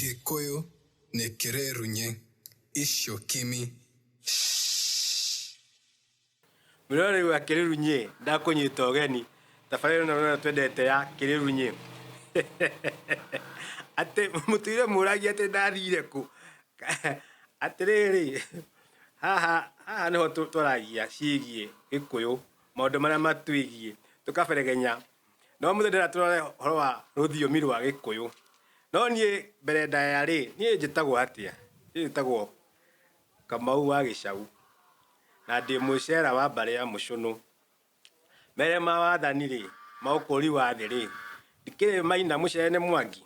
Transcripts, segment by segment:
Gĩkũyũ nĩ kĩrĩrunye icio kimi shh. Mũnĩrwa rĩu wa kĩrĩrunye ndakũnyita ũgeni tabarĩra ĩno nĩyo twendete ya kĩrĩrunye atĩ mũtũire mũragia atĩ ndathire kũ atĩrĩrĩ haha haha nĩho twaragia ciĩgie gĩkũyũ maũndũ marĩa matwĩgie tũkaberegenya no mũthĩ ndĩra tũrore horo wa rũthiomi rwa gĩkũyũ no niĩ mbere ndaya rĩ niĩ njĩtagwo atĩa niĩ njĩtagwo kamau wa gĩcau na ndĩ mwĩcera wa mbarĩ ya mũcũnũ mere ma wathani rĩ ma ũkũri wa thĩ rĩ ndikĩrĩ maina mũcene mwangi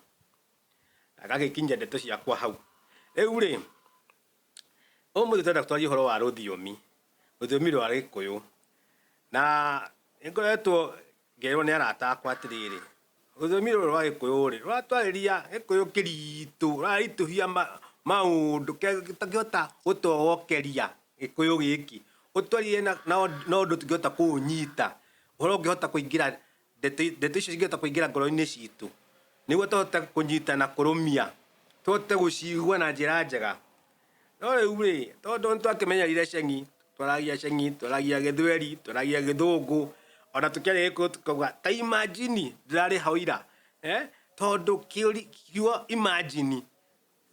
na gagĩkinyia ndeto ciakwa hau rĩu rĩ Ũmũthĩ tũrenda twarie ũhoro wa rũthiomi, rũthiomi rwa Gĩkũyũ. Na nĩ ngoretwo ngĩrwo nĩ arata akwa atĩrĩrĩ, rũthiomi rũrũ rwa Gĩkũyũ rĩ, rũratwarĩria Gĩkũyũ kĩritũ, rũraritũhia maũndũ tũngĩhota gũtogokeria Gĩkũyũ gĩkĩ. Ũtwarĩrie na ũndũ tũngĩhota kũũnyita, ũhoro ũngĩhota kũingĩra Ndeto, ndeto icio cingĩhota kũingĩra ngoro-inĩ citũ, nĩguo tũhote kũnyita na kũrũmia, tũhote gũcigua na njĩra njega. No rĩu rĩ, tondũ nĩ twakĩmenyerire ceng'i, twaragia ceng'i, twaragia gĩthweri, twaragia gĩthũngũ, ona tũkĩaria gĩkũyũ tũkauga ta imagine ndĩrarĩ hau ira, tondũ kiugo imagine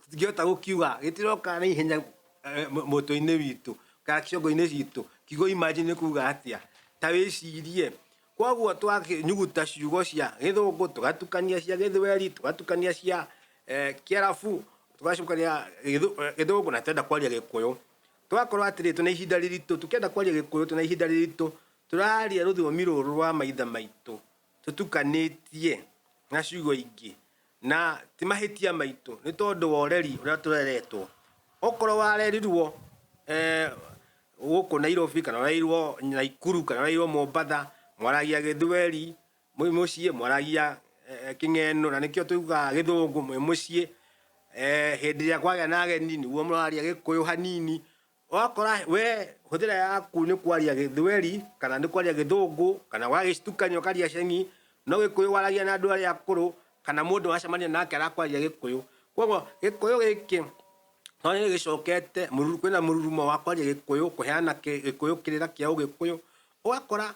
tũtingĩhota gũkiuga gĩtiroka na ihenya eh, mũ- mũtwe-inĩ witũ kana ciongo-inĩ citũ kiugo imagine nĩ kuga atĩa ta wĩcirie koguo twanyuguta ciugo cia gĩthũngũ tũgatukania cia gĩthweri tũgatukania cia eh, kĩarabu tũgacukania gĩthũ- eh, gĩthũngũ na twenda kwaria gĩkũyũ twakorwo atĩrĩ tũna ihinda rĩritũ tũkĩenda kwaria gĩkũyũ tũna ihinda rĩritũ tũraria rũthiomi rũrũ rwa maithe maitũ tũtukanĩtie na ciugo ingĩ Na ti mahĩtia maitũ, nĩ tondũ wa ũreri ũrĩa tũreretwo. Okorwo warerirwo gũkũ Nairobi, kana ũrereirwo Naikuru, kana ũrereirwo Mombatha, mwaragia gĩthweri mwĩ mũciĩ, mwaragia kĩng'eno, na nĩkĩo tugaga gĩthũngũ mwĩ mũciĩ, hĩndĩ ĩrĩa kwagĩa na ageni nĩguo mũraria gĩkũyũ hanini, wakora we hũthĩra yaku nĩ kwaria gĩthweri kana nĩ kwaria gĩthũngũ kana wagĩcitukania ũkaria ceng'i no gĩkũyũ waragia na andũ arĩa akũrũ kana mũndũ wacemania nake arakwarĩria gĩkũyũ koguo gĩkũyũ gĩkĩ no nĩ gĩcokete kwĩna mũrurumo wa kwaria gĩkũyũ kũheana gĩkũyũ kĩrĩra kĩa ũgĩkũyũ ũgakora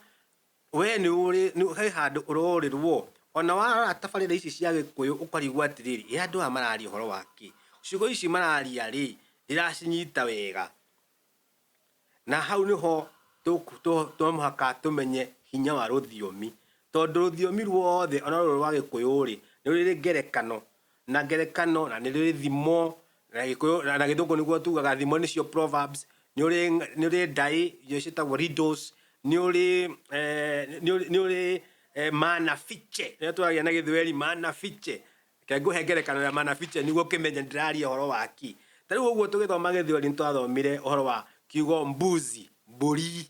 Wee nĩ ũrĩ, nĩ he handũ ũrorĩrwo? O na warora tabarĩra ici cia Gĩkũyũ ũkarigwo atĩrĩrĩ, ĩ andũ aya mararia ũhoro wa kĩ? Ciugo ici mararia rĩ, ndĩracinyita wega. Na hau nĩ ho to mũhaka tũmenye hinya wa rũthiomi, tondũ rũthiomi ruothe o na rũrũ rwa Gĩkũyũ rĩ, nĩ rũrĩ ngerekano. na ngerekano, na nĩrĩrĩ thimo, na Gĩkũyũ, na, na Gĩthũngũ nĩguo tugaga thimo nĩcio proverbs, nĩ ũrĩ, ng'a- nĩ ũrĩ ndaĩ iria ciĩtagwo riddles, nĩ ũrĩ, eh, nĩ ũrĩ, nĩ ũrĩ eh, maana fiche, nĩyo twaragia na Gĩthweri, maana fiche, reke ngũhe ngerekano ya maana fiche nĩguo ũkĩmenye ndĩraria ũhoro wa kĩ. Ta rĩu ũguo tũgĩthoma Gĩthweri nĩtwathomire ũhoro wa kiugo mbuzi, mbũri,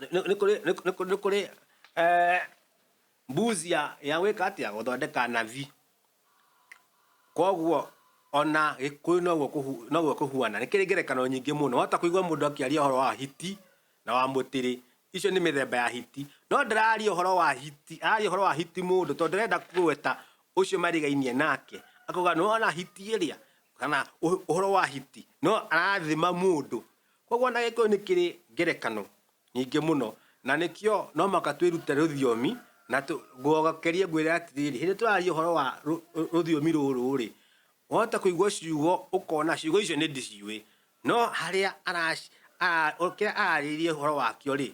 nĩ nĩ kũrĩ nĩ nĩ kũrĩ- nĩ kũrĩ eh, mbuzi ya ya gwĩka atĩa gũthondeka nathi koguo ona gĩkũyũ noguo kũhu- noguo kũhuana nĩ kĩrĩ ngerekano nyingĩ mũno wahota kũigua mũndũ akĩaria ũhoro wa hiti na wa mũtĩrĩ icio nĩ mĩthemba ya hiti no ndararia ũhoro wa hiti araria ũhoro wa hiti mũndũ tondũ ndarenda kũgweta ũcio marigainie nake akauga nĩwona hiti ĩrĩa kana ũh- ũhoro wa hiti no arathima mũndũ Kwoguo o na Gĩkũyũ nĩ kĩrĩ ngerekano nyingĩ mũno, na nĩkĩo no mũhaka twĩrute rũthiomi na ngogerie ngwĩre atĩrĩrĩ, hĩndĩ tũrarĩrĩria ũhoro wa rũthiomi rũrũ-rĩ, wahota kũigua ciugo ũkona ciugo icio nĩ ndĩciũĩ, no harĩa kĩrĩa ararĩrĩria ũhoro wakĩo-rĩ,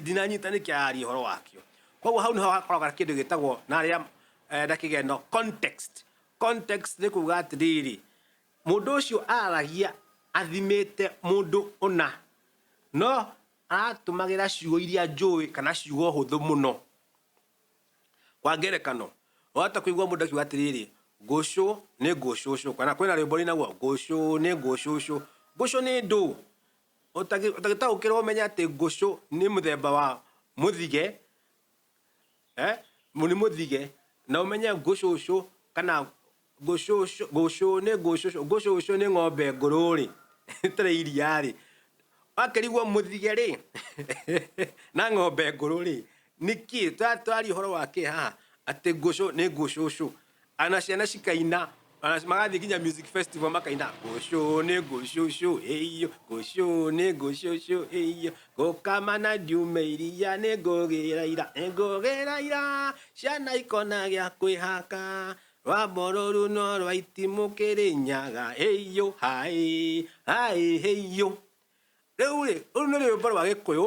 ndinanyita nĩkĩ ararĩrĩria ũhoro wakĩo. Kwoguo hau nĩho hakoragwo na kĩndũ gĩtagwo na kĩgendo context. Context nĩ kuga atĩrĩrĩ, Mũndũ ũcio aragia athimĩte mũndũ ũna, no aratũmagĩra ciugo iria njũĩ kana ciugo hũthũ mũno. Kwa ngerekano, wahota kũigua mũndũ akiuga atĩrĩrĩ, ngũcũ nĩ ngũcũcũ, kana kwĩna rwĩmbo rwĩnaguo, ngũcũ nĩ ngũcũcũ. Ngũcũ nĩ ndũ. Ũtagĩtaũkĩrwo ũmenye atĩ ngũcũ nĩ mũthemba wa mũthige, eh? nĩ mũthige na ũmenye ngũcũcũ kana ngũcũcũ ngũcũ nĩ ngũcũcũ ngũcũcũ nĩ ng'ombe ngũrũ rĩ ĩtarĩ iria rĩ wakĩrigwo mũthige rĩ na ng'ombe ngũrũ rĩ nĩkĩ tũratwaria ũhoro wa kĩ haha atĩ ngũcũ nĩ ngũcũcũ ana ciana cikaina ona magathiĩ nginya music festival makaina ngũcũ nĩ ngũcũcũ ĩiyo ngũcũ nĩ ngũcũcũ ĩiyo ngũkama na ndiume iria nĩ ngũgĩra ira nĩ ngũgĩra ira ciana ikona gĩa kwĩhaka rwa mborũru no rwa itimũ kĩrĩnyaga ĩiyo haĩ haĩ ĩiyo Rĩu rĩ, rũu nĩ rwĩmbo rwa gĩkũyũ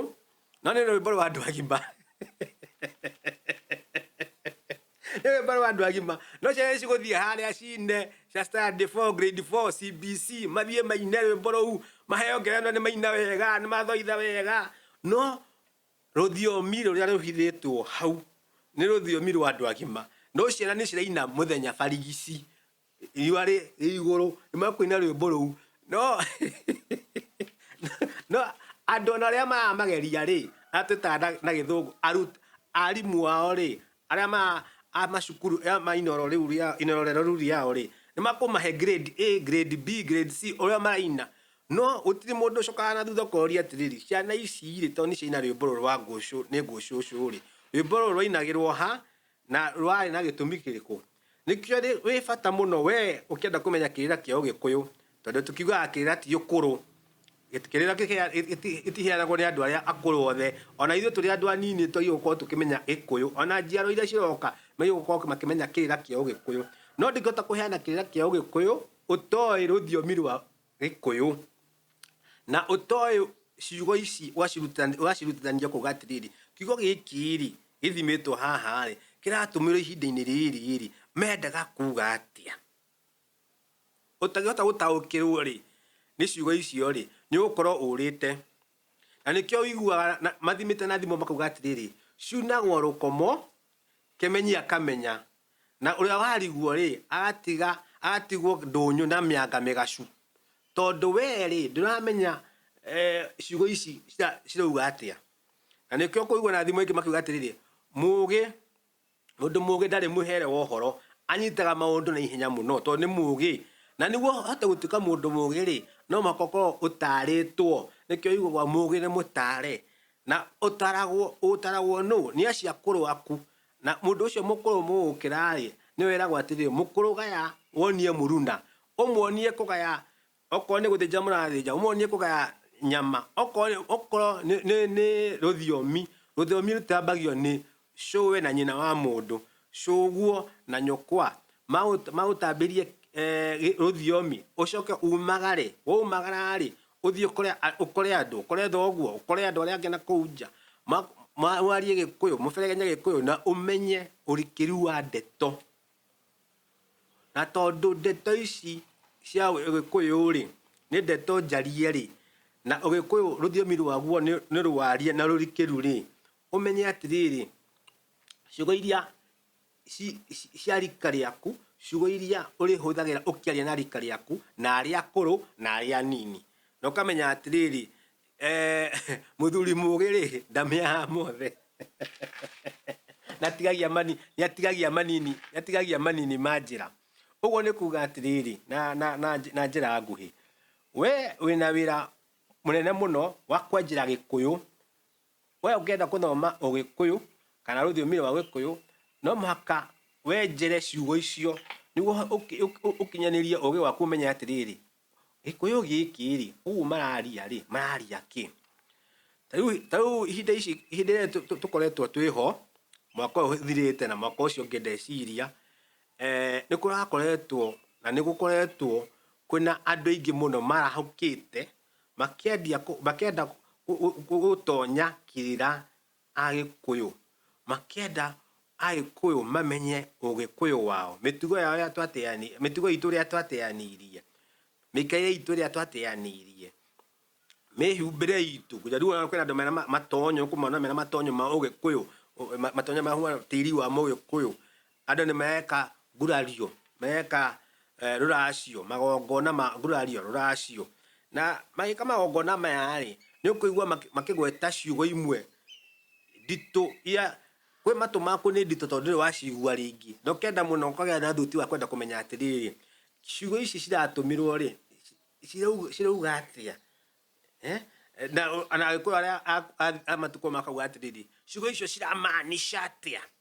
no nĩ rwĩmbo rwa andũ agima nĩ rwĩmbo rwa andũ agima no ciana nĩ cigũthiĩ harĩa cine cia standard 4 grade 4 CBC mathiĩ maine rwĩmbo rũu maheo ngerenwa nĩ maina wega nĩ mathoitha wega no rũthiomi rũrĩa rũhithĩtwo hau nĩ rũthiomi rwa andũ agima no ciana nĩ ciraina mũthenya barigici riũa rĩ igũrũ nĩmekũina rwĩmbo rũu no no andũ ona arĩa maramageria rĩ arĩa twĩtaga na- na gĩthũngũ arut arimũ ao rĩ arĩa ma a macukuru ya ma inoro rĩu rĩa inoro rĩero rĩu rĩao rĩ nĩmakũmahe grade A grade B grade C ũrĩa maraina no gũtirĩ mũndũ ũcokaga na thutha ũkoria atĩrĩrĩ ciana ici rĩ to nĩciaina rwĩmbo rũrũ rwa ngũcũ nĩ ngũcũcũ rĩ rwĩmbo rũrũ rwainagĩrwo ha Na rwarĩ na gĩtũmi kĩrĩkũ? Nĩkĩo rĩ, wĩ bata mũno we ũkĩenda kũmenya kĩrĩra kĩa Ũgĩkũyũ, tondũ tũkiugaga kĩrĩra ti ũkũrũ, gĩti- kĩrĩra gĩkĩhea- gĩti- gĩtiheanagwo nĩ andũ arĩa akũrũ othe. Ona ithuĩ tũrĩ andũ anini twagĩrĩirwo gũkorwo tũkĩmenya Gĩkũyũ. Ona njiaro iria ciroka magĩrĩirwo gũkorwo makĩmenya kĩrĩra kĩa Ũgĩkũyũ. No ndingĩhota kũheana kĩrĩra kĩa Ũgĩkũyũ ũtoĩ rũthiomi rwa Gĩkũyũ. Na ũtoĩ ciugo ici ũgacirutithania kuga atĩrĩrĩ, kiugo gĩkĩ-rĩ, gĩthimĩtwo haha-rĩ, kĩratũmĩrwo ihinda-inĩ rĩrĩ-rĩ, mendaga kuga atĩa. Ũtangĩhota gũtaũkĩrwo-rĩ, nĩ ciugo icio-rĩ, nĩũgũkorwo ũrĩte. Na nĩkĩo wĩiguaga mathimĩte na thimo makauga atĩrĩrĩ, ciunagwo rũkomo, kĩmenyi akamenya Na ũrĩa wariguo-rĩ, agatiga agatigwo ndũnyũ na mĩanga mĩgacu. Tondũ wee-rĩ, ndũramenya ciugo ici cirauga atĩa. Na nĩkĩo ũkũigua na thimo ingĩ makiuga atĩrĩrĩ, mũũgĩ, mũndũ mũũgĩ ndarĩ mũhere wa ũhoro, anyitaga maũndũ na ihenya mũno tondũ nĩ mũũgĩ. Na nĩguo ũhote gũtuĩka mũndũ mũũgĩ-rĩ, no mũhaka ũkorwo ũtaarĩtwo. Nĩkĩo yugagwo mũũgĩ nĩ mũtaare. Na ũtaragwo ũtaragwo nũ? Nĩ aciakũrũ aku. Na mũndũ ũcio mũkũrũ mũgũkĩra-rĩ, nĩwe eragwo atĩrĩ, Mũkũrũ gaya, wonie mũruna, ũmuonie kũgaya, okorwo nĩ gũthĩnja mũrathĩnja, ũmuonie kũgaya nyama, okorwo, okorwo nĩ, nĩ, nĩ rũthiomi, rũthiomi rũtambagio nĩ cũwe na nyina wa mũndũ, cũguo na nyũkwa, magũ, magũtambĩrie rũthiomi, ũcoke umagare, waumagara-rĩ, Ũthiĩ ũkore a- ũkore andũ, ũkore thoguo, ũkore andũ arĩa angĩ na kũu nja. Ma- ma- Mwarie Gĩkũyũ, mũberegenye Gĩkũyũ na ũmenye ũrikĩru wa ndeto. Na tondũ ndeto ici cia Ũgĩkũyũ-rĩ, nĩ ndeto njarie-rĩ, na Ũgĩkũyũ rũthiomi rwaguo nĩ nĩ rũarie na rũrikĩru-rĩ, ũmenye atĩrĩrĩ, ciugo iria ci, ci, cia rika rĩaku ciugo iria ũrĩhũthagĩra ũkĩaria na rika rĩaku na arĩa akũrũ na arĩa anini na ũkamenya atĩrĩrĩ eh, mũthuri mũgĩ rĩ ndamĩaha mothe natigagia mani nĩatigagia manini nĩatigagia manini ma njĩra ũguo nĩ kuga atĩrĩrĩ na, na, na, na njĩra nguhĩ we wĩna wĩra mũnene mũno wa kwenjera gĩkũyũ We ũngĩenda gũthoma Ũgĩkũyũ kana rũthiomi rwa Gĩkũyũ, no mũhaka wenjere ciugo icio nĩguo ũkinyanĩrie ũgĩ waku ũmenye atĩrĩrĩ, Gĩkũyũ gĩkĩ-rĩ, ũguo mararia-rĩ, mararia kĩ? Ta rĩu ihinda ici, hĩndĩ ĩrĩa tũkoretwo twĩ ho, mwaka ũyũ ũthirĩte na mwaka ũcio ũngĩ ndeciria, nĩ kũrakoretwo na nĩ gũkoretwo kwĩna andũ aingĩ mũno marahũkĩte makĩendia kũ- makĩenda kũ- kũ- kũ- gũtonya kĩrĩra agĩkũyũ makĩenda agĩkũyũ mamenye ũgĩkũyũ wao mĩtugo yao ĩrĩa twateani mĩtugo itũ ĩrĩa twateanirie mĩikaire itũ ĩrĩa twateanirie mĩhumbĩre itũ kũja rĩu ona kwĩna andũ mena ma- matonyo kũmona mena matonyo ma ũgĩkũyũ ũ- ma- matonyo ma huana tĩri wa mũgĩkũyũ Andũ nĩmeeka ngurario, meeka rũracio, magongona ma ngurario, rũracio. Na magĩĩka magongona maya-rĩ, nĩũkũigua makĩgweta ciugo imwe nditũ iria kwĩ matũ maku nĩ nditũ tondũ ndũrĩ waciigua rĩngĩ. Na ũkenda mũno ũkagĩa na thuti wa kwenda kũmenya atĩrĩrĩ, ciugo ici ciratũmĩrwo-rĩ, cirauga atĩa? Na Agĩkũyũ arĩa a matukũ mau makauga atĩrĩrĩ, ciugo icio ciramaanisha atĩa?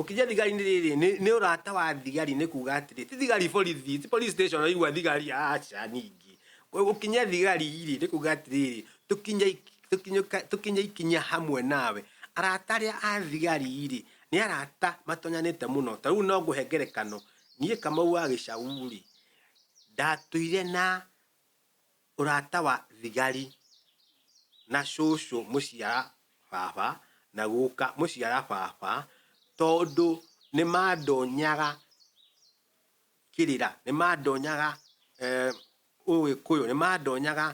Ũkĩnja thigari nĩ rĩrĩ nĩ, nĩ ũrata wa thigari nĩ kuga atĩrĩ ti thigari borithi ti police station ũraigua thigari aca ningĩ ũkinya thigari rĩ nĩ kuga atĩrĩrĩ tũkinyai tũkinyũka- tũkinya ikinya hamwe nawe arata arĩa a thigari rĩ nĩ arata matonyanĩte mũno ta rĩu no ngũhe ngerekano niĩ kamau wa gĩcau rĩ ndatũire na Ũrata wa thigari na cũcũ mũciara baba na gũka mũciara baba tondũ nĩmandonyaga kĩrĩra, nĩmandonyaga ũgĩkũyũ, nĩmandonyaga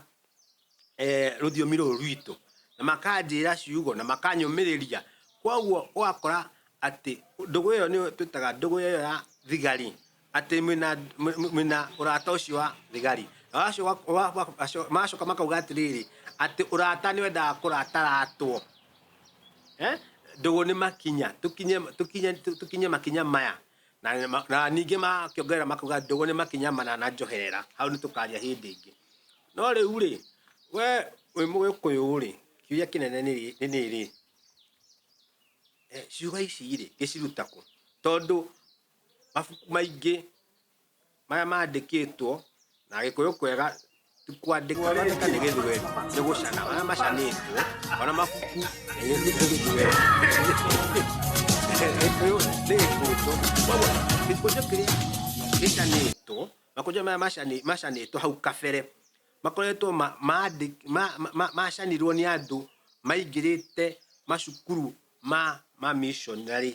rũthiomi rũrũ rwitũ na makanjĩra ciugo na makanyũmĩrĩria kwoguo ũgakora atĩ ndũgũ ĩyo nĩyo twĩtaga ndũgũ ĩyo ya thigari atĩ mwĩ na- mwĩ- mwĩ- mwĩ na ũrata ũcio wa thigari Na wacoka- wa- wa- waco- magacoka makauga atĩrĩrĩ atĩ ũrata nĩ wendaga kũrataratwo Eh? ndũgũ nĩ makinya tũkinye tũkinye tũkinye makinya maya na, na, na ningĩ makĩongerera makauga ndũgũ nĩ makinya mana na njoherera hau nĩ tũkaria hĩndĩ ĩngĩ no rĩu rĩ we wĩ mũgĩkũyũ rĩ kĩũria kĩnene nĩ rĩ- nĩ rĩrĩ eh, ciugo ici rĩ gĩciruta kũ tondũ mabuku maingĩ marĩa mandĩkĩtwo na gĩkũyũ kwega kwandĩka wandĩka nĩ gĩthweri nĩ gũcana marĩa macanĩtwo ona mabuku nĩ gĩthweri gĩkũyũ nĩ gĩkũnjũ koguo gĩkũnjũ kĩrĩa gĩcanĩtwo makũnjũ maya macani- macanĩtwo hau kabere makoretwo ma- mandĩ- ma- ma- ma- macanirwo nĩ andũ maingĩrĩte macukuru ma mamishonarĩ,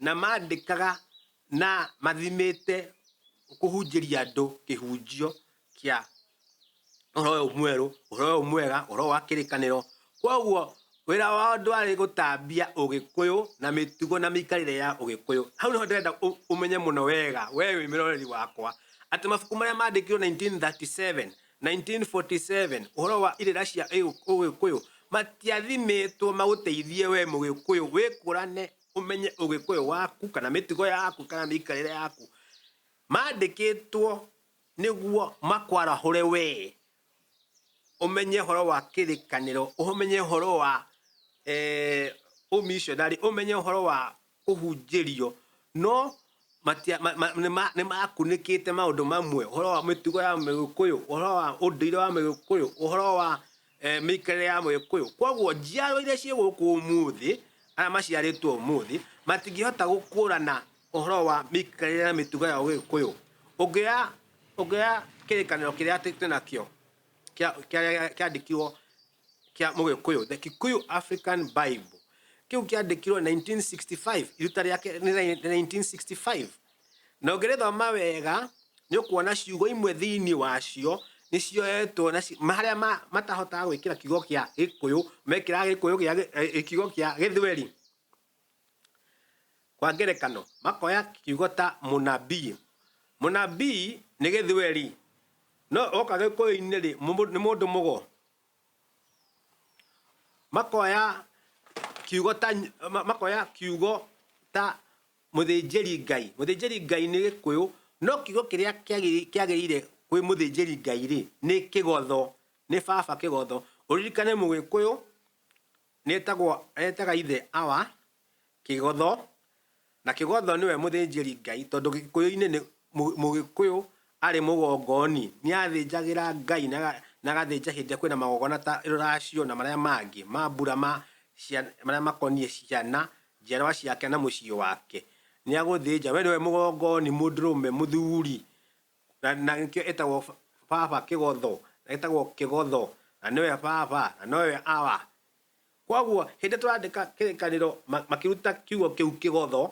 na mandĩkaga na mathimĩte kũhunjĩria andũ kĩhunjio kĩa ũhoro ũyũ mwerũ, ũhoro ũyũ mwega, ũhoro ũyũ wa kĩrĩkanĩro. Koguo wĩra wao ndwarĩ gũtambia ũgĩkũyũ na mĩtugo na mĩikarĩre ya ũgĩkũyũ. Hau nĩho ndĩrenda ũmenye mũno wega, wee wĩ mũroreri wakwa, atĩ mabuku marĩa mandĩkirwo 1937, 1947, Ũhoro wa irĩra cia Ũgĩkũyũ matiathimĩtwo magũteithie wee Mũgĩkũyũ wĩkũrane, ũmenye Ũgĩkũyũ waku, kana mĩtugo yaku, kana mĩikarĩre yaku. Mandĩkĩtwo nĩguo makwarahũre wee ũmenye ũhoro wa kĩrĩkanĩro, ũmenye ũhoro wa ũmishonarĩ, ũmenye ũhoro wa kũhunjĩrio, no matia, ma, ma, nĩma, nĩmakunĩkĩte maũndũ mamwe, ũhoro wa mĩtugo ya Mũgĩkũyũ, ũhoro wa ũndũire wa Mũgĩkũyũ, ũhoro wa e, mĩikarĩre ya Mũgĩkũyũ. Kwoguo njiaro iria ciĩ gũkũ ũmũthĩ, arĩa maciarĩtwo ũmũthĩ, matingĩhota gũkũrana ũhoro wa mĩikarĩre na mĩtugo ya Ũgĩkũyũ. Ũngĩoya, ũngĩoya kĩrĩkanĩro kĩrĩa twĩ nakĩo kĩandĩkirwo kĩa mũgĩkũyũ the kikuyu african bible kĩu kĩandĩkirwo 1965 iruta rĩake nĩ rĩa- nĩ 1965 na ũngĩrĩthoma wega nĩ ũkuona ciugo imwe thĩinĩ wacio nĩ cioetwo na ci- ma- harĩa ma- matahotaga gwĩkĩra kiugo kĩa gĩkũyũ mekĩraga gĩkũyũ gĩa gĩ- eh, kiugo kĩa gĩthweri Kwa ngerekano, makoya kiugo ta mũnabii. Mũnabii nĩ gĩthweri, no oka gĩkũyũ-inĩ rĩ, nĩ mũndũ mũgo. Makoya kiugo ta, makoya kiugo ta mũthĩnjĩri Ngai. Mũthĩnjĩri Ngai nĩ gĩkũyũ, no kiugo kĩrĩa kĩagĩrĩire kwĩ mũthĩnjĩri Ngai rĩ, nĩ kĩgotho, nĩ baba kĩgotho. Ũririkane mũgĩkũyũ Nĩtagwo, etaga ithe Awa, Kĩgotho, na Kĩgotho nĩwe mũthĩnjĩri Ngai tondũ gĩkũyũ-inĩ nĩ, mũgĩkũyũ arĩ mũgongoni nĩathĩnjagĩra Ngai na, na agathĩnja hĩndĩ ĩrĩa kwĩna magongona ta rũracio na marĩa mangĩ, mambura ma cia, marĩa makoniĩ ciana, njiarwa ciake na mũciĩ wake. Nĩagũthĩnja, we nĩwe mũgongoni, mũndũrũme, mũthuri, Na, na nĩkĩo ĩtagwo ba- baba kĩgotho na ĩtagwo kĩgotho na nĩwe baba na nowe awa kwoguo hĩndĩ tũrandĩka kĩrĩkanĩro ma- makĩruta kiugo kĩu kĩgotho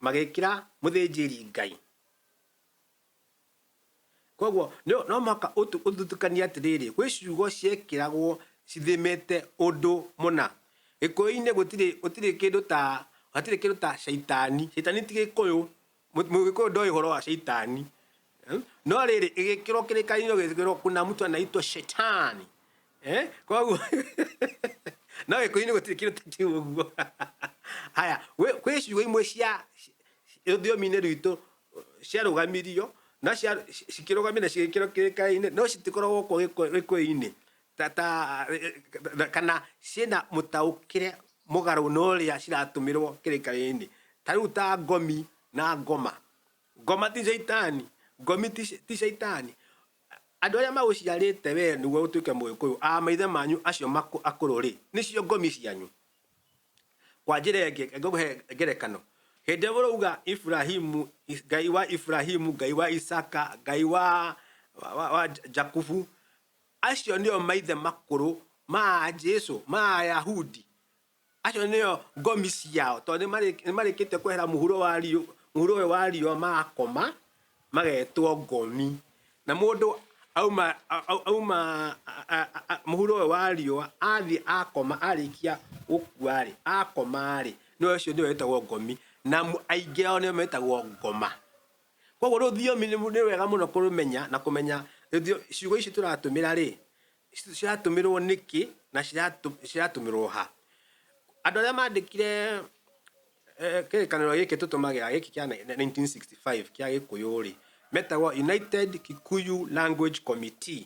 magĩkĩra mũthĩnjĩri ngai kwoguo nĩ- no mũhaka ũtu- ũthutũkanie atĩrĩrĩ gwĩ ciugo ciekĩragwo cithimĩte ũndũ mũna gĩkũyũ-inĩ gũtirĩ gũtirĩ kĩndũ ta hatirĩ kĩndũ ta caitani caitani ti gĩkũyũ Mũgĩkũyũ ndoĩ ũhoro wa shaitani. Eh? No rĩrĩ ĩgĩkĩrwo kĩrĩkanĩro gĩkĩrwo kuna mtu anaitwa shetani. Eh? Koguo no gĩkũyũ-inĩ gũtirĩ kĩndũ ta kĩu ũguo. Haya, kwĩ ciugo imwe cia rũthiomi-inĩ rwitũ ciarũgamirio no cikĩrũgamire cigĩkĩrwo kĩrĩkanĩro no citikoragwo gũkũ gĩkũyũ-inĩ. ta, ta, ta, kana ciĩna mũtaũkĩre mũgarũ na ũrĩa ciratũmĩrwo kĩrĩkanĩro-inĩ ta rĩu ta ngomi na ngoma ngoma ti caitani ngomi ti ti caitani andũ arĩa magũciarĩte wee nĩguo ũtuĩke mũgĩkũyũ a maithe manyu acio makũ- akũrũ rĩ nĩcio ngomi cianyu kwa njĩra ĩngĩ ngũhe ngerekano hĩndĩ ĩrĩa ũrauga iburahimu is- ngai wa iburahimu ngai wa isaka ngai wa wa, wa, wa jakubu Acio nĩo maithe makũrũ ma Jesu, ma Ayahudi. Acio nĩo ngomi ciao, tondũ nĩmarĩkĩtie kwehera mũhuro wa riũ, mũhuro ũyũ wa riũa magakoma, magetwo ngomi. Na mũndũ auma, auma mũhuro ũyũ wa riũa, athiĩ akoma, arĩkia gũkua-rĩ, akoma-rĩ, nĩwe ũcio nĩwe wĩtagwo ngomi, na aingĩ ao nĩo metagwo ngoma. Koguo rũthiomi nĩ wega mũno kũrũmenya na kũmenya ciugo ici tũratũmĩra rĩ, ciratũmĩrwo nĩkĩ na ciratũmĩrwo ha. Andũ arĩa mandĩkire kĩrĩkanĩro gĩkĩ tũtũmagĩra gĩkĩ kĩa nineteen sixty five kĩa gĩkũyũ rĩ, metagwo United Kikuyu Language Committee.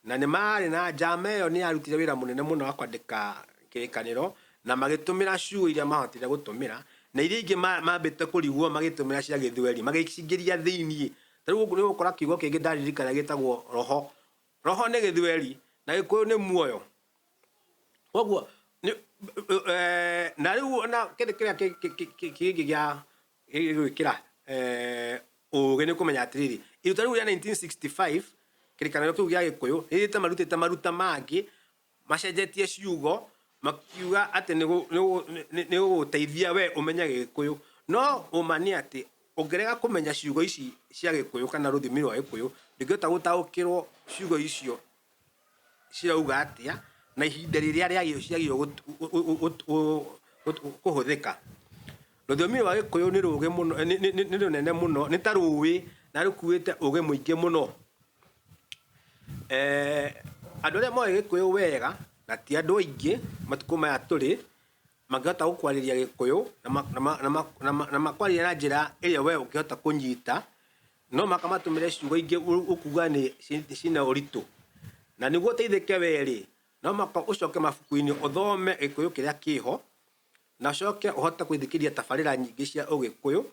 Na nĩ maarĩ na njama ĩyo nĩ yarutire wĩra mũnene mũno wa kwandĩka Kĩrĩkanĩro, na magĩtũmĩra ciugo iria maahotire gũtũmĩra, na iria ingĩ ma- maambĩte kũrigwo magĩtũmĩra cia Gĩthweri, magĩcingĩria thĩinĩ. Ta rĩu nĩ ũgũkora kiugo kĩngĩ ndaririkana gĩtagwo roho. Roho nĩ Gĩthweri, na Gĩkũyũ nĩ muoyo. Koguo nĩ- eh, na rĩu ona kĩndũ kĩrĩa kĩ- kĩ- kĩ- kĩngĩ gĩa gĩgwĩkĩra eh, ũũgĩ nĩ kũmenya atĩrĩrĩ iruta rĩu rĩa 1965 kĩrĩkanĩro kĩu gĩa gĩkũyũ rĩrĩte marutĩte maruta mangĩ macenjetie ciugo makiuga atĩ nĩ gũ- nĩ gũ- nĩ- nĩ gũgũteithia we ũmenye gĩkũyũ no ũma nĩ atĩ ũngĩrega kũmenya ciugo ici cia gĩkũyũ kana rũthimi rwa gĩkũyũ ndũngĩhota gũtaũkĩrwo ciugo icio cirauga atĩa na ihinda rĩrĩa rĩagĩrĩirwo kũhũthĩka. Rũthiomi rwa gĩkũyũ nĩ rũgĩ mũno, nĩ rũnene mũno, nĩ ta rũĩ na rũkuĩte ũgĩ mũingĩ mũno. Andũ arĩa moĩ gĩkũyũ wega na ti andũ aingĩ matukũ maya tũrĩ, mangĩhota gũkwarĩria gĩkũyũ na ma- na ma- na ma- na ma- na makwarĩria na njĩra ĩrĩa we ũngĩhota kũnyita no maka matũmĩre ciugo ingĩ ũ- ũkuga nĩ ci- cina ũritũ na nĩguo ũteithĩke werĩ no maka ũcoke mabuku-inĩ ũthome gĩkũyũ kĩrĩa kĩho na ũcoke ũhote gũthikĩria tabarĩra nyingĩ cia ũgĩkũyũ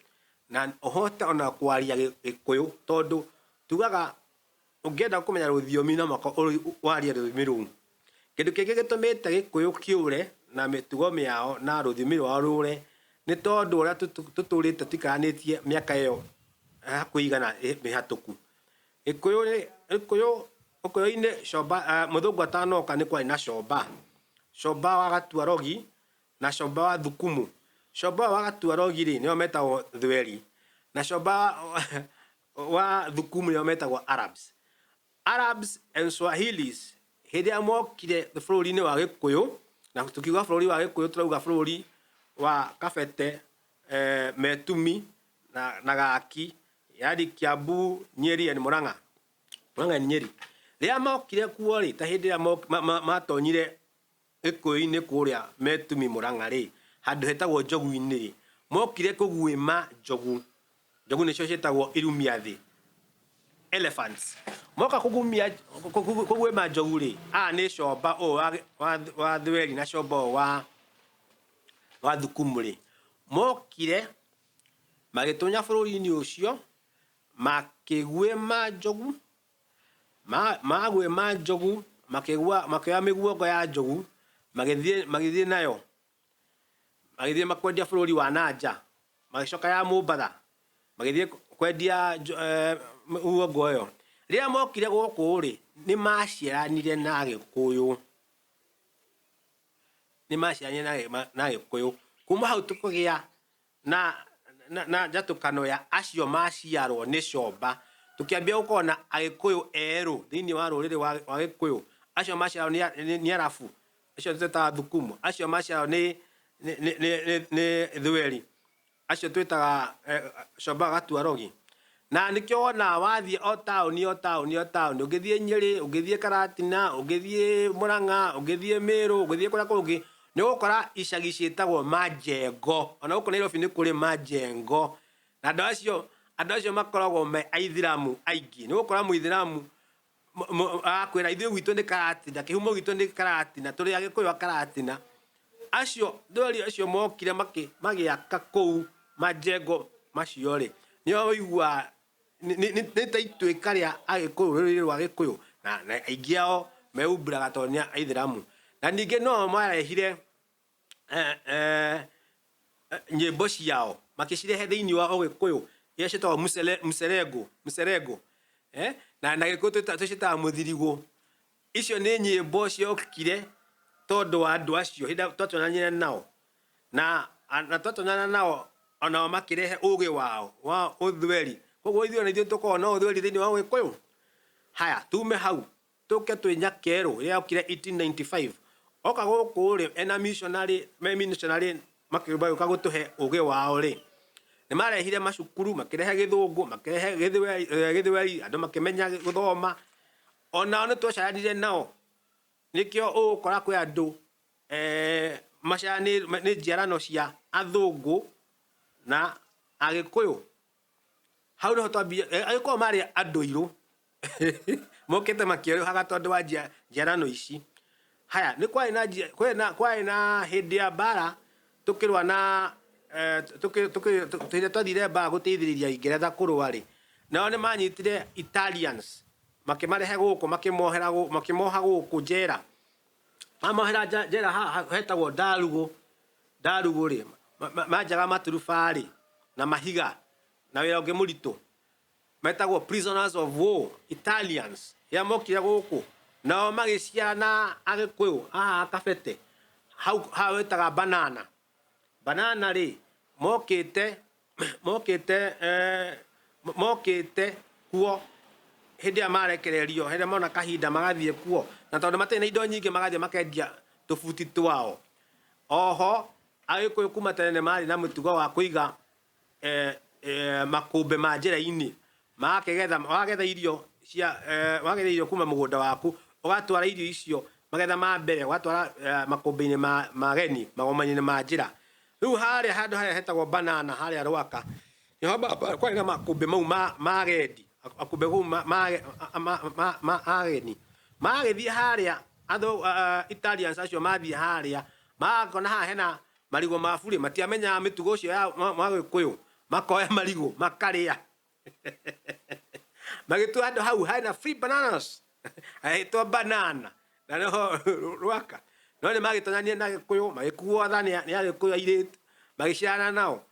na ũhote ona kwaria gĩ- gĩkũyũ tondũ tugaga Ũngĩenda kũmenya rũthiomi no mũhaka warie rũthiomi rũu. Kĩndũ kĩngĩ gĩtũmĩte Gĩkũyũ kĩũre na mĩtugo mĩao na rũthiomi rwao rũre nĩ tondũ ũrĩa tũtũrĩte tũikaranĩtie mĩaka ĩyo ya hakuhĩ igana mĩhatũku. Gĩkũyũ rĩ, Gĩkũyũ, Ũkũyũ-inĩ comba, mũthũngũ atanoka nĩ kwarĩ na comba. Comba wa Gatuarogi na comba wa Thukumu. Comba ũyũ wa Gatuarogi rĩ, nĩwe wetagwo Thweri na comba wa wa thukumu ĩyo metagwo Arabs. Arabs and Swahilis hĩndĩ ĩrĩa mokire bũrũri-inĩ wa Gĩkũyũ, na tũkiuga bũrũri wa Gĩkũyũ tũrauga bũrũri wa Kabete, eh, Metumi na, na Gaki, yani Kiambu, Nyeri and Murang'a. Murang'a and Nyeri. Rĩrĩa mokire kuo rĩ, ta hĩndĩ ĩrĩa mok- ma- ma- matonyire Gĩkũyũ-inĩ kũrĩa Metumi Mũrang'a-rĩ, handũ hetagwo Njogu-inĩ-rĩ, mokire kũguĩma njogu, njogu nĩcio ciĩtagwo irumiathĩ, elephants. Moka kũgumia, kũguĩma njogu-rĩ, aya nĩ comba ũyũ wa wa wa Thweri na comba ũyũ wa wa Thukumu-rĩ, mokire magĩtũnya bũrũri-inĩ ũcio makĩguĩma njogu. Ma- Maguĩma njogu, makĩgua- makĩoya mĩguongo ya njogu, magĩthiĩ magĩthiĩ nayo, magĩthiĩ makwendia bũrũri wa na nja, magĩcoka ya Mũmbatha, magĩthiĩ kwendia njo- eh, mĩguongo ĩyo. Rĩrĩa mokire gũkũ-rĩ, nĩ maciaranire na Agĩkũyũ, nĩ maciaranire na Agĩ- ma- na Agĩkũyũ. Kuma hau tũkĩgĩa na, na, na njatũkano ya acio maciarwo nĩ comba tũkĩambia gũkorwo na agĩkũyũ erũ thĩinĩ wa rũrĩrĩ wa wa gĩkũyũ acio maciarwo nĩ a- nĩ- nĩ arabu acio twĩtaga thukumu acio maciarwo nĩ nĩ- nĩ- nĩ- nĩ- nĩ thweri acio twĩtaga eh, comba gatuarogi Na nĩkĩo wonaga wathiĩ o taũni o taũni o taũni, ũngĩthiĩ Nyĩrĩ, ũngĩthiĩ Karatina, ũngĩthiĩ Mũrang'a, ũngĩthiĩ Mĩrũ, ũngĩthiĩ kũrĩa kũngĩ, nĩ ũgũkora icagi ciĩtagwo Majengo. O na gũkũ Nairobi nĩ kũrĩ Majengo. Na andũ acio, andũ acio makoragwo me Aithĩramu aingĩ. Nĩ ũgũkora Mũithĩramu akwĩra ithuĩ gwitũ nĩ karatina kĩhumo gitũ nĩ karatina tũrĩ agĩkũyũ a karatina acio ndori acio mokire magĩaka kũu majengo macio rĩ nĩo ũigua nĩ ta ituĩka rĩa agĩkũyũ rũrĩrĩ rwa gĩkũyũ na aingĩ ao mehumbĩraga tondũ nĩ aithĩramu na ningĩ no o marehire eh, eh, nyĩmbo ciao makĩcirehe thĩinĩ wa ũgĩkũyũ iria ciĩtagwo mũcere- mũcerengo mũcerengo eh, na na gĩkũyũ twĩta- tũciĩtaga mũthirigũ icio nĩ nyĩmbo ciokire tondũ wa andũ acio hĩndĩ ĩrĩa twatũranire nao na na twatũnana nao onao makĩrehe ũgĩ wao wa ũthweri koguo ithuĩ ona ithuĩ tũkoragwo na ũthweri thĩinĩ wa ũgĩkũyũ haya tume hau Tũke twĩnya kerũ rĩrĩa okire 1895 oka gũkũ rĩ ena missionary me missionary magĩũka gũtũhe ũgĩ wao rĩ nĩmarehire macukuru makĩrehe gĩthũngũ makĩrehe gĩthweri andũ makĩmenya gũthoma onao nĩtwacaranire nao nĩkĩo ũgũkora kwĩ andũ eeh maciaranĩrwo nĩ njiarano cia athũngũ na agĩkũyũ. Hau nĩho twambia eh, agĩkorwo marĩ andũirũ mokĩte makĩerũhaga tondũ wa njia- njiarano ici haya nĩ kwarĩ na njia- kwarĩ na- kwarĩ na hĩndĩ ya mbara tũkĩrũa na eh, tũkĩ- tũkĩ- tũ- hĩndĩ ĩrĩa twathire mbara gũteithĩrĩria ingeretha kũrũa rĩ nao nĩ manyitire italians makĩmarehe gũkũ makĩmohera gũ- makĩmoha gũkũ njera mamohera nja- njera haha hetagwo ndarugũ Ndarugũ-rĩ, ma, ma, manjaga maturuba-rĩ, na mahiga, na wĩra ũngĩ mũritũ, metagwo prisoners of war, Italians, rĩrĩa mokire gũkũ, nao magĩciara na Agĩkũyũ haha Kabete, hau, haha wĩtaga Banana. Banana-rĩ, mokĩte mokite eh, mokite kuo hindi ya marekererio hindi mona kahinda magathie kuo na tondu matire na indo nyingi magathie makendia tubuti twao oho agikuyu kuma tene mari na mutugo wa kuiga eh, eh, makumbe ma njira-ini Magakĩgetha, wagetha irio cia, eh, wagetha irio kuma mũgũnda waku, ũgatwara irio icio magetha ma mbere, ũgatwara eh, makũmbĩ-inĩ ma, ma geni, magomani-inĩ ma njĩra. Rĩu harĩa handũ harĩa hetagwo banana harĩa rwaka, nĩho ba- ba- kwarĩ na makũmbĩ mau ma, ma agendi, makũmbĩ kũu ma, ma, ma, ma, ma, ma ageni. Magagĩthiĩ harĩa, andũ uh, Italians acio mathiĩ harĩa, magakona haha hena marigũ ma burĩ, matiamenyaga mĩtugo ũcio ya mwa- mwa Gĩkũyũ, makoya marigũ, makarĩa. magĩtua handũ hau hena free bananas hagĩtwo banana na noho rwaka no nĩ magĩtonyanire na gĩkũyũ magĩkuo tha nĩ agĩkũyũ airĩtu magĩciarana nao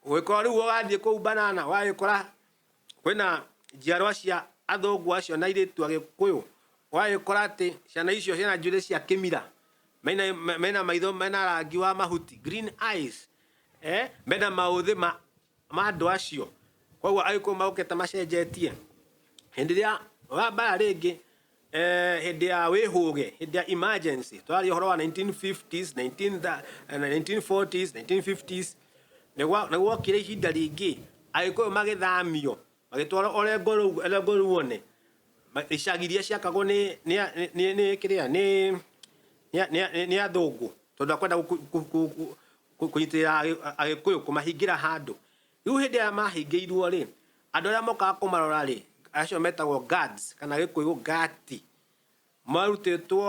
ũgĩkorwo rĩu wathiĩ kũu banana wagĩkora kwĩna njiarwa cia athũngũ acio na airĩtu agĩkũyũ wagĩkora atĩ ciana icio ciĩna njuĩrĩ cia kĩmira mena mena maitho mena rangi wa mahuti green eyes eh mena maũthĩ ma ma andũ acio koguo agĩkũyũ magũkĩte macenjetie hĩndĩ ĩrĩa wa mbara rĩngĩ eh, hĩndĩ ya wĩhũge hĩndĩ ya emergency tũraria ũhoro wa 1950s 19 tha- eh, 1940s 1950s nĩgwa- nĩgwokire ihinda rĩngĩ agĩkũyũ magĩthamio Magĩtwarwo Orengo rũu, Orengo rũu one ma- icagi iria ciakagwo nĩ nĩ a- nĩ- nĩ nĩ kĩrĩa nĩ nĩ a- nĩ a- nĩ athũngũ tondũ akwenda gũ- kũ- kũ- kũ- kũ- kũ- kũnyitĩrĩra Agĩ- agĩkũyũ kũmahingĩra handũ rĩu hĩndĩ ĩrĩa mahingĩirwo rĩ andũ arĩa mokaga kũmarora rĩ acio metagwo guards kana gĩkũyũ gati Marutĩtwo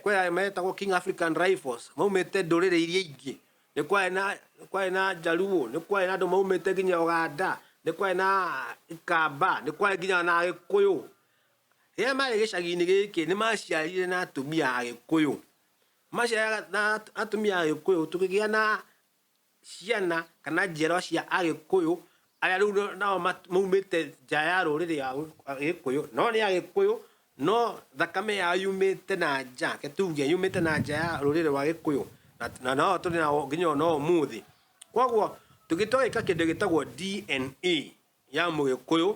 kwĩ arĩa metagwo King African Rifles maumĩte ndũrĩrĩ iria ingĩ, nĩ kwarĩ na nĩ kwarĩ na Njaruo, nĩ kwarĩ na andũ maumĩte nginya Ũganda, nĩ kwarĩ na Ikamba, nĩ kwarĩ nginya na Agĩkũyũ. Rĩrĩa marĩ gĩcagi-inĩ gĩkĩ nĩ maciarire na atumia Agĩkũyũ, maciarire na atumia Agĩkũyũ tũkĩgĩa na ciana kana njiarwa cia Agĩkũyũ arĩa rĩu nao maumĩte nja ya rũrĩrĩ rwa Gĩkũyũ, no nĩ Agĩkũyũ no thakame yao yumĩte na nja, reke tuge yumĩte na nja ya rũrĩrĩ rwa Gĩkũyũ, na no o tũrĩ nao nginya ona ũmũthĩ. Koguo tũngĩtua gwĩka kĩndũ gĩtagwo DNA ya Mũgĩkũyũ,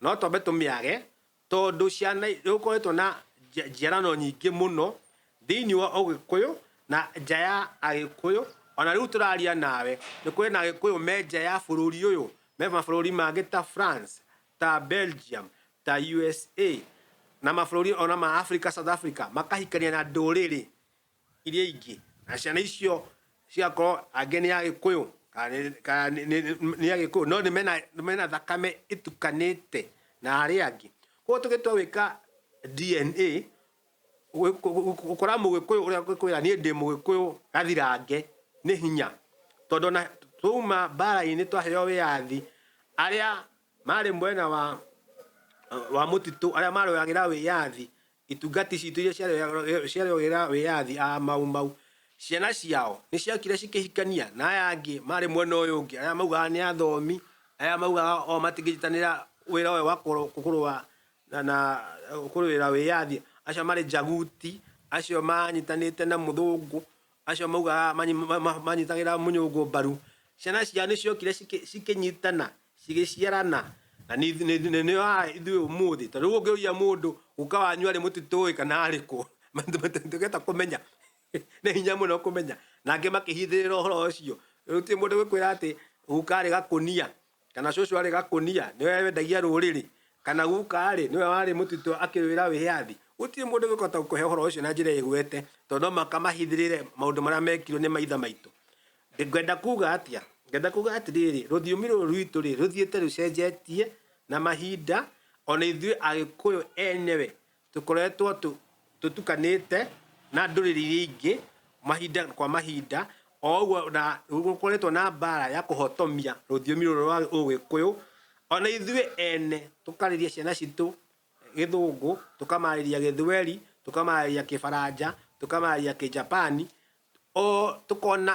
no twambe tũmĩage. Tondũ ciana, nĩgũkoretwo na njiarano nyingĩ mũno thĩinĩ wa Ũgĩkũyũ na nja ya Agĩkũyũ, o na rĩu tũraria nawe, nĩ kũrĩ na Agĩkũyũ me nja ya bũrũri ũyũ, me mabũrũri mangĩ ta France, ta Belgium, ta USA, na mabũrũri o na ma Africa, South Africa, makahikania na ndũrĩrĩ iria ingĩ na ciana icio cigakorwo angĩ nĩ agĩkũyũ kana nĩ agĩkũyũ no nĩ mena, mena thakame ĩtukanĩte na arĩa angĩ koguo tũgĩtua gwĩka DNA gũkora mũgĩkũyũ ũrĩa ũngĩkwĩra niĩ ndĩ mũgĩkũyũ gathirange nĩ hinya tondũ ona twauma mbara-inĩ twaheo wĩyathi arĩa Maarĩ mwena wa wa mũtitũ arĩa marũagĩra wĩyathi itungati citũ iria ciarũagĩra- ciarũagĩra wĩyathi a mau mau ciana ciao nĩ ciokire cikĩhikania na aya angĩ marĩ mwena ũyũ ũngĩ arĩa maugaga nĩ athomi arĩa maugaga o matingĩnyitanĩra wĩra ũyũ wa kũrũ- kũrũa na na kũrũĩra wĩyathi acio marĩ njaguti acio manyitanĩte na mũthũngũ acio maugaga manyi- ma- ma- manyitagĩra mũnyũngũ mbaru ciana ciao nĩ ciokire cikĩ- cikĩnyitana cigĩciarana na nĩ ithu- nĩ- nĩ- nĩ haha ithuĩ ũmũthĩ tondũ rĩu ũngĩũria mũndũ guka wanyu arĩ mũtitũĩ kana arĩ kũ tũgeta kũmenya nĩ hinya mũno kũmenya nangĩ makĩhithĩrĩra ũhoro ũcio rĩu ti mũndũ gũkwĩra atĩ guka arĩ gakũnia kana cũcũ arĩ gakũnia nĩwe wendagia rũrĩrĩ kana guka arĩ nĩwe warĩ mũtitũ akĩrwĩra wĩyathi gũtirĩ mũndũ gũkota gũkũhe ũhoro ũcio na njĩra ĩgwete tondũ no mũhaka mahithĩrĩre maũndũ marĩa mekirwo nĩ maithe maitũ Ndĩ, ngwenda kuuga atĩa? Ngwenda kuuga atĩrĩrĩ, rũthiomi rũrũ rwitũ-rĩ, rũthiĩte rũcenjetie na mahinda, o na ithuĩ Agĩkũyũ enyewe tũkoretwo tũ, tũtukanĩte na ndũrĩrĩ iria ingĩ mahinda kwa mahinda, o ũguo, na gũkoretwo na mbaara ya kũhotomia rũthiomi rũrũ rwa Ũgĩkũyũ, o na ithuĩ ene tũkarĩria ciana citũ Gĩthũngũ, tũkamarĩria Gĩthweri, tũkamarĩria Kĩbaranja, tũkamarĩria Kĩjapani, O tũkona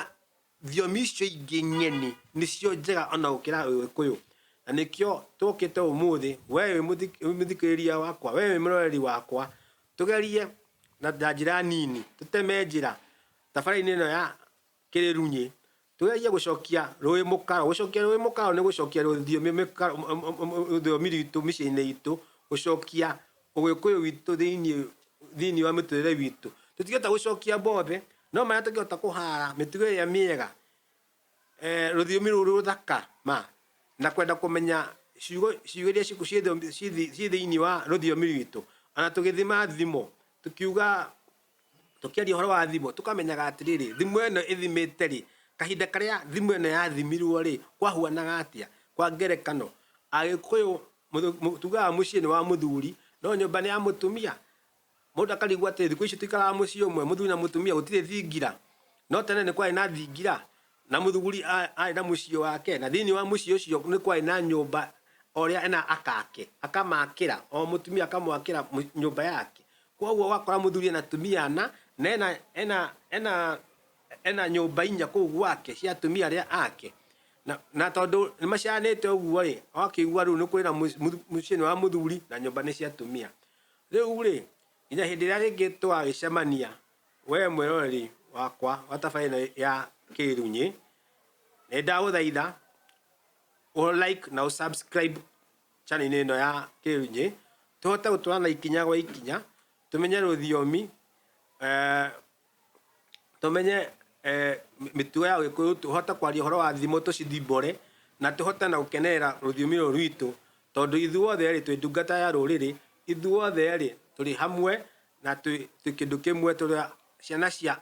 thiomi icio ingĩ ng'eni nĩcio njega ona gũkĩra ũgĩkũyũ. Na nĩkĩo tũkĩte ũmũthĩ we wĩ mũthikĩrĩria wakwa, we wĩ mũroreri wakwa, tũgerie na njĩra nini, tũteme njĩra thabarĩ-inĩ ĩno ya kĩrĩrunyĩ, Tũgerie gũcokia rũĩ mũkaro. Gũcokia rũĩ mũkaro nĩ gũcokia rũthiomi mĩkaro, m- m- m- m- rũthiomi rwitũ mĩciĩ-inĩ itũ, gũcokia ũgĩkũyũ witũ thĩinĩ thĩinĩ wa mĩtũrĩre witũ. Tũtingĩhota gũcokia mothe, no marĩa tũngĩhota kũhara mĩtugo ĩrĩa mĩega, eh, rũthiomi rũrũ rũthaka ma, na kwenda kũmenya ciugo ciugo iria ciku- ciĩ thiomi- ciĩ thi- ciĩ thĩinĩ wa rũthiomi rwitũ. Ona tũgĩthima thimo, tũkiuga Tũkĩaria ũhoro wa thimũ, tũkamenyaga atĩrĩrĩ, thimũ ĩno ĩthimĩte rĩ, kahinda karĩa thimũ ĩno yathimirwo rĩ, kwahuanaga atĩa? Kwa ngerekano, Agĩkũyũ tugaga mũciĩ nĩ wa mũthuri, no nyũmba nĩ ya mũtumia. Mũndũ akarigwo atĩrĩ, thikũ ici tũikaraga mũciĩ ũmwe, mũthuri na mũtumia, gũtirĩ thingira? No tene nĩ kwarĩ na thingira, na mũthuri arĩ na mũciĩ wake, na thĩiniĩ wa mũciĩ ũcio nĩ kwarĩ na nyũmba o ũrĩa ena aka ake, akamakĩra, o mũtumia akamwakĩra nyũmba yake. Kwoguo wakora muthuri ena tumia ana na ena ena ena ena nyumba inya kuu gwake cia tumia aria ake na, na tondu ni maciaranite uguo ri akigua riu ni kuri na mucii ni wa muthuri na nyumba ni cia tumia riu ri nginya hindi iria ringi tugagicemania we mwiroreri wakwa wa tabarira ino ya kirunyi ni ndaguthaitha u like na u subscribe channel-inĩ ĩno ya Kĩrũnyĩ tũhote gũtwarana ikinya gwa ikinya, tũmenye rũthiomi, eh, tũmenye eh, mĩtugo ya Gĩkũyũ, tũhote kwaria ũhoro wa thimo tũcithimbore na tũhote na gũkenerera rũthiomi rũrũ rwitũ tondũ ithuothe rĩ twĩ ndungata ya rũrĩrĩ, ithuothe rĩ tũrĩ hamwe na twĩ twĩ kĩndũ kĩmwe tũrĩ a- ciana cia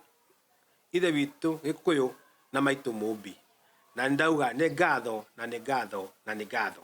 Ithe witũ Gĩkũyũ na maitũ Mũmbi. Na nĩndauga nĩ ngatho na nĩ ngatho na nĩ ngatho.